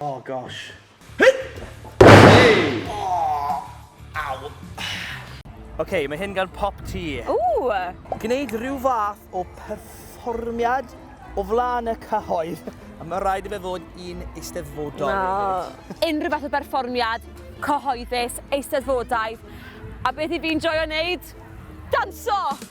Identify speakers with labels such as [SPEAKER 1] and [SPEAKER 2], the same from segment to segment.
[SPEAKER 1] Oh gosh. Hey! Oh! Ow! OK, mae hyn gan pop ti. Ooh! Gwneud rhyw fath o perfformiad o flaen y cyhoedd. A mae rhaid i fe fod un eisteddfodol. No. Unrhyw fath o
[SPEAKER 2] berfformiad, cyhoeddus, eisteddfodaidd. A beth i fi'n joio wneud? Danso!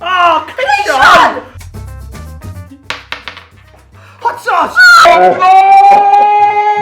[SPEAKER 1] Oh, Cleision! Hot sauce! Oh,
[SPEAKER 2] no!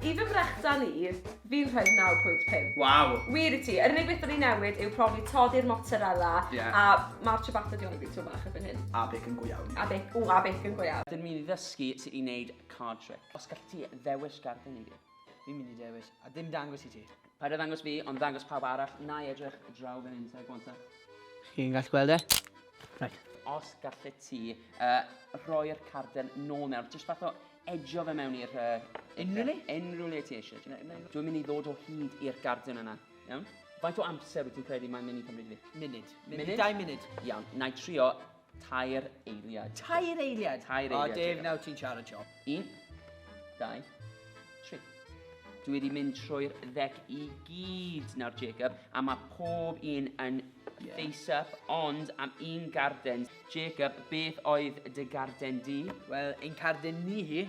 [SPEAKER 2] I fy mrechdan i, fi'n rhaid 9.5. Waw. Wir i
[SPEAKER 1] ti. Yr unig beth
[SPEAKER 2] o'n i newid yw profi toddi'r mozzarella yeah. a mae'r ciabatta di o'n i byd tŵm bach erbyn hyn. A bec yn go iawn. A bec,
[SPEAKER 1] o, a bec yn
[SPEAKER 2] go iawn. Dyn ni'n ddysgu sut i
[SPEAKER 3] wneud card trick. Os gallu ti ddewis gardd yn i fi, fi'n mynd i dewis
[SPEAKER 4] a dim dangos i ti. Paid a ddangos fi, ond
[SPEAKER 3] ddangos pawb arall. Na i edrych draw fan hyn, sef gwanta. Chi'n gallu
[SPEAKER 4] gweld e? Right. Os gallu
[SPEAKER 3] ti uh, rhoi'r carden nôl mewn, jyst fath o edjo fe mewn i'r... Uh, Unrhyw le? Unrhyw le ti eisiau. Dwi'n mynd i ddod o hyd i'r garden yna. Iawn? Faint o amser wyt ti'n credu mae'n mynd i cymryd fi? Munud. Munud? Dau
[SPEAKER 4] munud.
[SPEAKER 3] Iawn, na i trio Tair eiliad. Tair eiliad?
[SPEAKER 4] Tair eiliad. O, Dave, nawr
[SPEAKER 3] ti'n siarad siop.
[SPEAKER 4] Un,
[SPEAKER 3] dau, tri. Dwi wedi mynd trwy'r ddec i gyd nawr, Jacob, a mae pob un yn yeah. face up, ond am un garden. Jacob, beth oedd dy garden di? Wel, ein carden
[SPEAKER 4] ni hi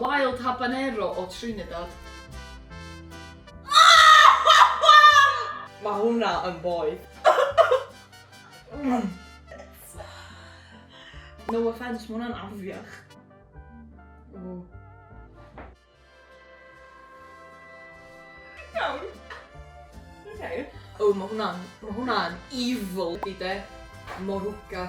[SPEAKER 5] Wild habanero o Trinidad.
[SPEAKER 2] Mae hwnna yn boeth.
[SPEAKER 5] No offence, mae hwnna'n afiach.
[SPEAKER 2] Iawn. Oce.
[SPEAKER 5] O ma' hwnna'n ma' hwnna'n
[SPEAKER 2] evil
[SPEAKER 5] 'di de. Moruga.